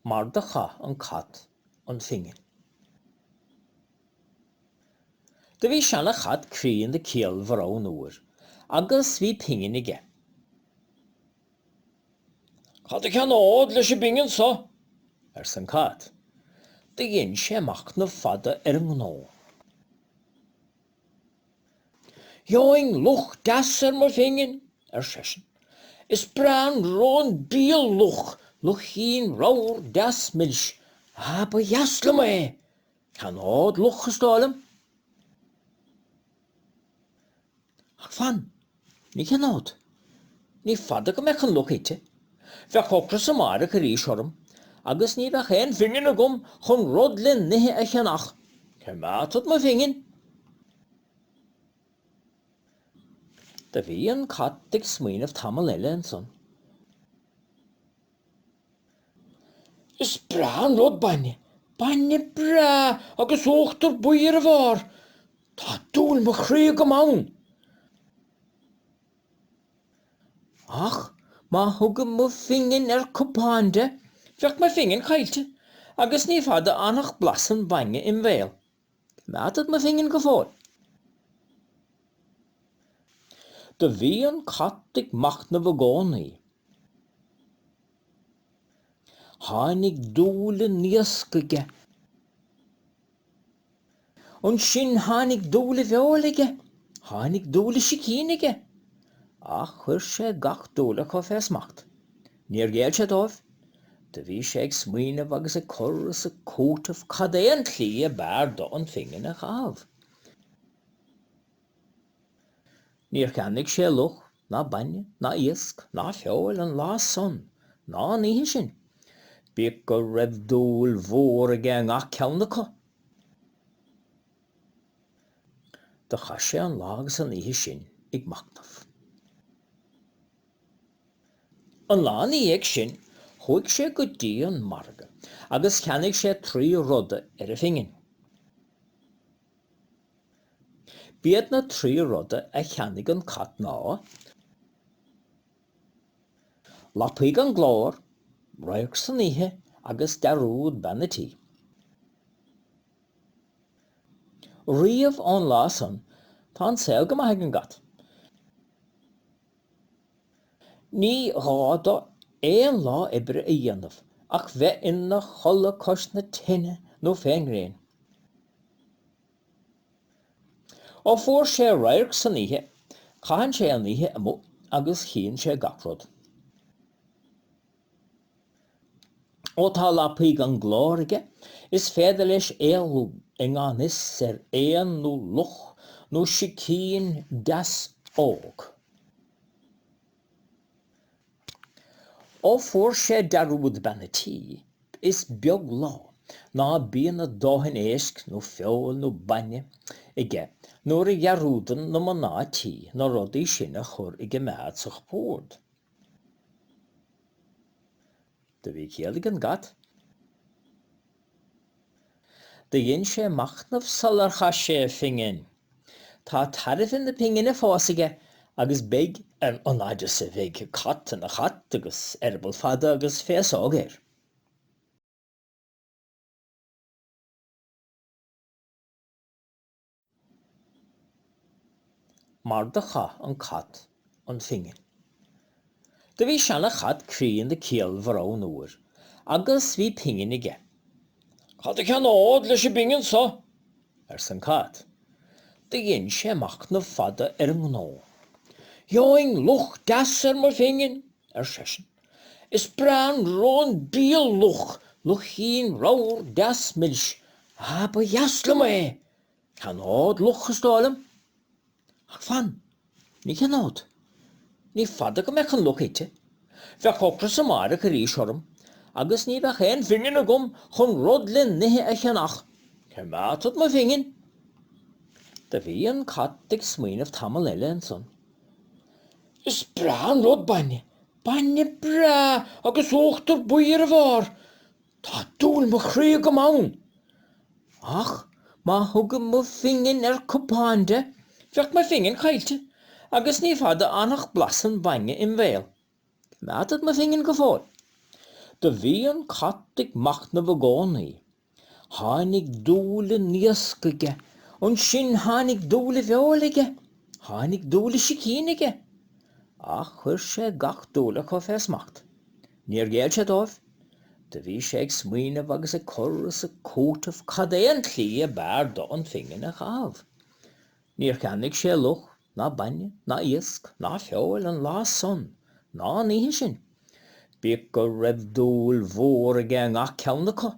Mar do chaith an cat an phingin. Do bhí seana chat críonda ciallmhar ann uair agus bhí pingin aige. Cad a cheannód leis an bpingin so? ars an cat. Do dhein sé machtnamh fada ar an ngnó. Gheobhainn luch deas ar mo phingin, ar seisean. Is breá an lón bia luch, luichín ramhar deas milis. Ah, ba dheas liom é! Ceannód luch is dóigh liom, ach fan. Ní cheannód. Ní fada go mbeadh an luch ite. Bheadh ocras amáireach arís orm agus ní bheadh aon phingin agam chun rud le n-ithe a cheannach. Coimeádfad mo phingin. Do bhí an cat ag smaoineamh tamall eile ansan. Is breá an rud bainne, bainne breá agus uachtar buí ar a bharr. Tá dúil mo chroí agam ann. Ach má thugaim mo phingin ar chupán de, bheadh mo phingin caillte agus ní fada fhanfadh blas an bhainne im' bhéal. Coimeádfad mo phingin go fóill. Do bhí an cat ag machnamh i gcónaí. Tháinig dúil in iasc aige. Ansin tháinig dúil i bhfeoil aige. Tháinig dúil i sicín aige. Ach chuir sé gach dúil acu fé smacht. Níor ghéill sé dóibh. Do bhí sé ag smaoineamh agus ag cur is ag cúiteamh cad é an tslí ab fhearr dó an phingin a chaitheamh. Níor cheannaigh sé luch ná bainne ná iasc ná feoil an lá san ná an oíche sin, bíodh go raibh dúil mhór aige i ngach ceann acu. Do chaith sé an lá agus an oíche sin ag machnamh. An lá ina dhiaidh sin chuaigh sé go dtí an margadh agus cheannaigh sé trí ruda ar a phingin. B'iad na trí ruda a cheannaigh an cat ná, lapaí gan glór, radharc san oíche agus dearúd bean an tí. Riamh ón lá san tá an saol go maith ag an gcat. Ní gá dó aon lá oibre a dhéanamh ach bheith ina chodladh cois na tine nó fén ngréin. Ó fuair sé radharc san oíche, caitheann sé an oíche amuigh agus chíonn sé gach rud. Ó tá lapaí gan glór aige, is féidir leis éalú i ngan fhios ar éan nó luch nó sicín deas óg. Ó fuair sé dearúd bean an tí, is beag lá ná bíonn a dhóthain éisc nó feoil nó bainne aige nuair a dhearúdann na mná tí na rudaí sin a chur i gcoimeád sa chupúrd. Do bhí ciall ag an gcat. Do dhein sé machnamh sular chaith sé a phingin. Tá tairbhe na pingine fós aige agus beidh an fhaid is a bheidh cat ina chat agus eireaball fada agus féasóg air. Mar do chaith an cat an phingin. Do bhí seana chat críonna ciallmhar ann uair agus bhí pingin aige. Cad a cheannód leis an bpingin so? ars an cat. Do dhein sé machnamh fada ar an ngnó. Gheobhainn luch deas ar mo phingin, ar seisean. Is breá an rón bídh luch, luichín ramhar deas milis. Ah ba dheas liom é! Ceannód luch is dóigh liom? Ach fan, ní cheannód. Ní fada go mbeadh an luch ite. Bheadh ocras amáireach arís orm agus ní bheadh aon phingin agam chun rud le n-ithe a cheannach. Coimeádfad mo phingin. Do bhí an cat ag smaoineamh tamall eile ansan. Is breá an rud bainne. Bainne breá agus uachtar buí ar a bharr. Tá dúil mo chroí agam ann. Ach má thugaim mo phingin ar chupán de, bheadh mo phingin caite agus ní fada fhanfadh blas an bhainne im' bhéal. Coimeádfad mo phingin go fóill. Do bhí an cat ag machnamh i gcónaí. Tháinig dúil i n-iasc aige. Annsin tháinig dúil i bhfeóil aige. Tháinig dúil i sicín aige. Ach chuir sé gach dúil acu fé smacht. Níor ghéill sé dóibh. Do bhí sé ag smaoineamh agus ag cur is ag cúiteamh cad é an tslí ab fhearr dó an phingin a chaitheamh. Níor cheannaigh sé luch, ná bainne, ná iasc, ná feoil an lá san, ná an oíche sin, bíodh go raibh dúil mhór aige i ngach ceann acu.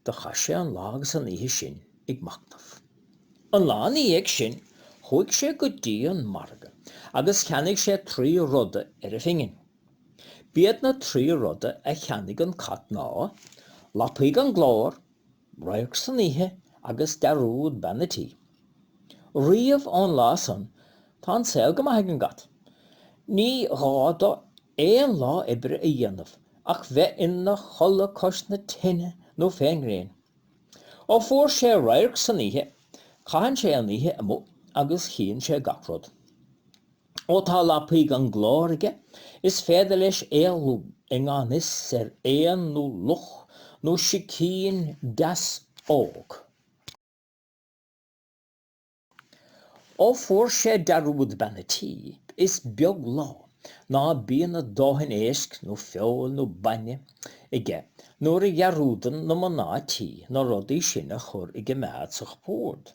Do chaith sé an lá agus an oíche sin ag machnamh. An lá ina dhiaidh sin chuaigh sé go dtí an margadh agus cheannaigh sé trí ruda ar a phingin. B'iad na trí ruda a cheannaigh an cat ná, lapaí gan glór, radharc san oíche agus dearúd bean a tí. Riamh ón lá san tá an saol go maith ag an gcat. Ní gá dó aon lá oibre a dhéanamh ach bheith ina chodladh cois na tine nó fén ngréin. Ó fuair sé radharc san oíche caitheann sé an oíche amuigh agus chíonn sé gach rud. Ó tá lapaí gan glór aige, is féidir leis éalú i ngan fhios ar éan nó luch nó sicín deas óg. Ó fuair sé dearúd bean a tí, is beag lá ná bíonn a dhóthain éisc nó feoil nó bainne aige nuair a dhearúdann na mná tí na rudaí sin a chur i gcoimeád sa chupúrd.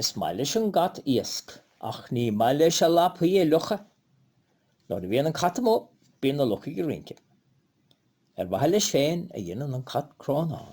Is maith leis an gcat iasc ach ní maith leis a lapaí a fhliuchadh. Nuair a bhíonn an cat amuigh bíonn na lucha ag rince. Ar mhaithe leis féin a dhéanann an cat crónán.